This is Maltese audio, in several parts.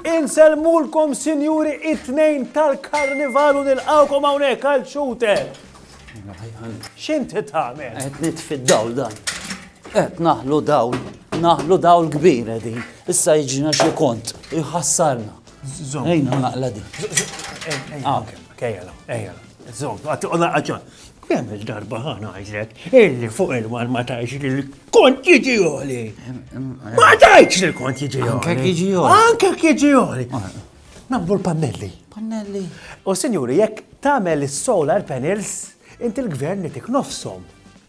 Insellmulkom sinjuri it-tnejn tal-karnival u nilqawkom hawnhekk għal shooter. X'int tagħmel? Qed nitfi dawl dan. Qed naħlu dawl, naħlu dawl kbir din. Issa jiġina xi kont, iħassarna. Zom. Ejn, naqla di. Ejjala, ejjala. Zom, għatti għolla għagġa. Kemm il-darba ħana għajzek, illi fuq il-mar ma tajx li l-kont jiġi għoli. Ma tajx li l-kont jiġi għoli. Anke jiġi għoli. Anke jiġi għoli. Nabdu l-pannelli. Pannelli. U sinjuri, jekk tamel il-solar panels, inti l-gvern nitik nofsom.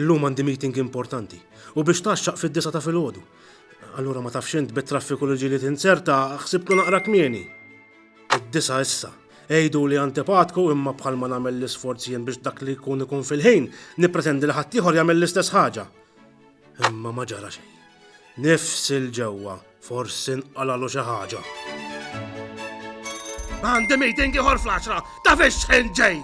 Illum għandi meeting importanti u biex tgħaxxaq fid-disgħa ta' filgħodu. Allura ma tafx int bit-traffiku li ġieli tinzerta, ħsibtu naqra kmieni. Id-disgħa issa. Għiduli antipatku imma bħalma nagħmel l-isforz jien biex dak li jkun ikun fil-ħin, nippretendi li ħaddieħor jagħmel l-istess ħaġa. Imma ma ġara xejn. Nifsil ġewwa. Forsi nqalalu xi ħaġa. Għandi meeting ieħor fl-10 ta' fiex ġej!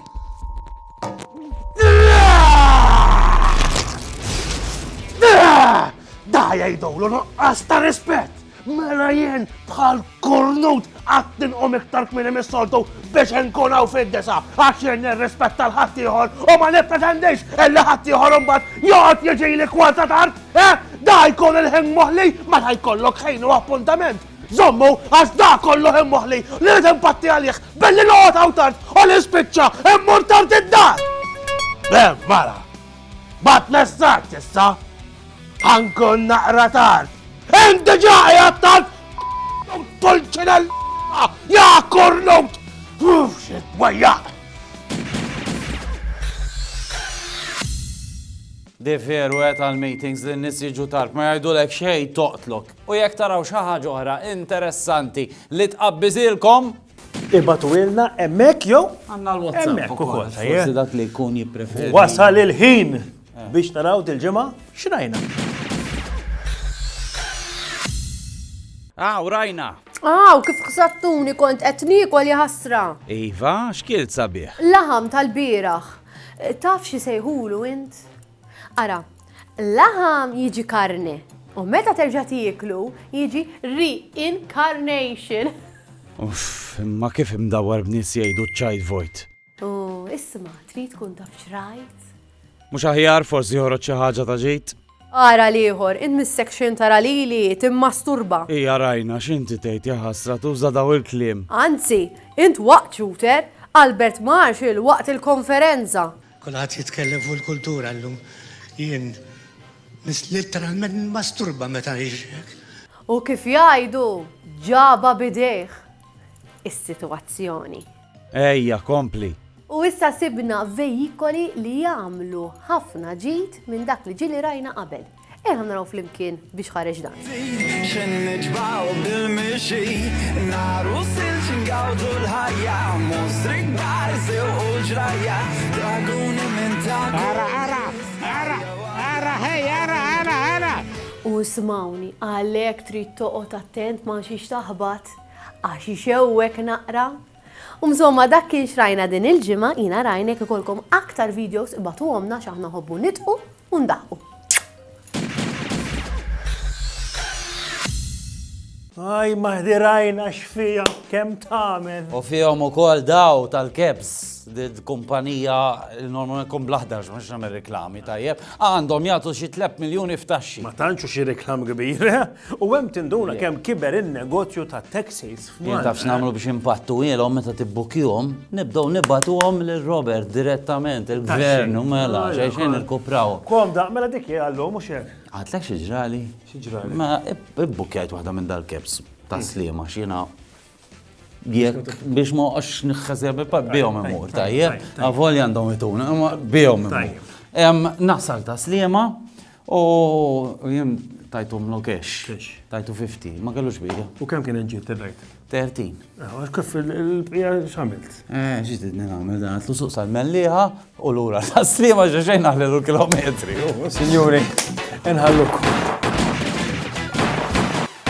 Da jgħidulu nuqqas ta' rispett! Mela jien bħal kornut għattin u miktar kmini mis-soltu biex nkun hawn fid-disa għax jien nirrispetta l-ħaddieħor u ma nippretendix illi ħaddieħor imbagħad joqgħod jiġi li kwanta tard. Eh, da jkun il-ħin moħli, ma ta' jkollok ħin u appuntament. Zommu, għax da kollu ħin moħli, li rrid impatti għalih, billi noqgħod hawn tard, u li spiċċa, immur tard id-dar. Bem, mara, bat messaġġ issa, ħankun naqra tard. Inti ġaħi għattant, tulċinel, ja kornut, uff, xit, wajjaq. De veru qed għal meetings li n-nies jiġu tard ma jgħidulek xejn toqtlok. U jekk taraw xi ħaġa oħra interessanti li tqabbiżilkom. Ibgħatuhielna hemmhekk jew. Għandna l-WhatsApp ukoll. Forsi dak li jkun jippreferi. Wasal il-ħin biex naraw dil-ġimgħa x'rajna. Aw rajna. Aw, kif ħsattuni kont qed niekol jaħasra. Iva, x'kielt sabiħ? Laħam tal-bieraħ. Taf xi jsejħulu int? Ara, laħam jiġi karne u meta terġa' tieklu jiġi reincarnation. Uff, imma kif imdawwar b'nies jgħidu ċ-ċajt vojt. U isma' trid tkun taf x'rajt? Mhux aħjar forsi joħroġ xi ħaġa ta' ġid? Ara l-ieħor, int missek-x'in tara lili timmasturba. Ija rajna x'inti tgħid, jaħasra tuża daw il-kliem. Anzi, int waqt Shooter, Albert Marshall waqt il-konferenza. Kulħadd jitkellem fuq il-kultura llum, jien litteralment nimmasturba meta nixrek. U kif jgħidu, ġabha b'idejh is-sitwazzjoni. Ejja, kompli! U issa sibna veikoli li jagħmlu ħafna ġid minn dak li ġieli rajna qabel. Ejja naraw flimkien biex ħareġ dan. X'inhi niġbgħu bil-mixi, nhar u silġ ingawdu l-ħajja, mostri kbar sewqu l-ġrajja, draguni minn ta' Ara, ara, ara, ara, hej, ara, ara, ara! U smawni, għalhekk trid toqgħod attent ma' xiex taħbat. Għax ixewwek naqra? U msomma dak kien x'rajna din il-ġimgħa, jiena rajna jekk ikollkom aktar videos ibagħtuhomlna għax aħna nħobbu nidqu u ndaħqu. Aj, maħdi rajna x'fija kemm tagħmel. U fihom ukoll daw tal-kebs kumpanija normalment kun blaħdar mhux nagħmel reklami tajjeb, għandhom jagħtu xi 3 miljuni f'taxxi. Ma tantxu xi reklam kbir. U hemm tinduna kemm kiber in-negozju tat-taxis f'Malta. Jien taf x'nagħmlu biex inpattuhielhom meta tibbukkihom? Nibdew nibagħtuhom lil Robert direttament, il-Gvern, u mela, xejn xejn irkupraw. Komda, mela dik hi għal-lum, mhux hekk? Għidtlek xi ġrali? Xi ġrali? Mela, ibbukkjajt waħda minn dal-cabs tas-Sliema għax jiena Jekk biex ma għax nħazja bi pad bijom imur, tajjeb, għavol jandom ituna, ma bijom imur. Nasal ta' slima u jem tajtu mlu kesh, tajtu 50, ma kellux bija. U kem kien ġiet t-rajt? 30. Għax kif il-bija xamilt? Eh, ġiet id għamil dan, għatlu suq sal-melliħa u l-ura ta' slima ġeġejn għallu kilometri. Signori, nħalluk.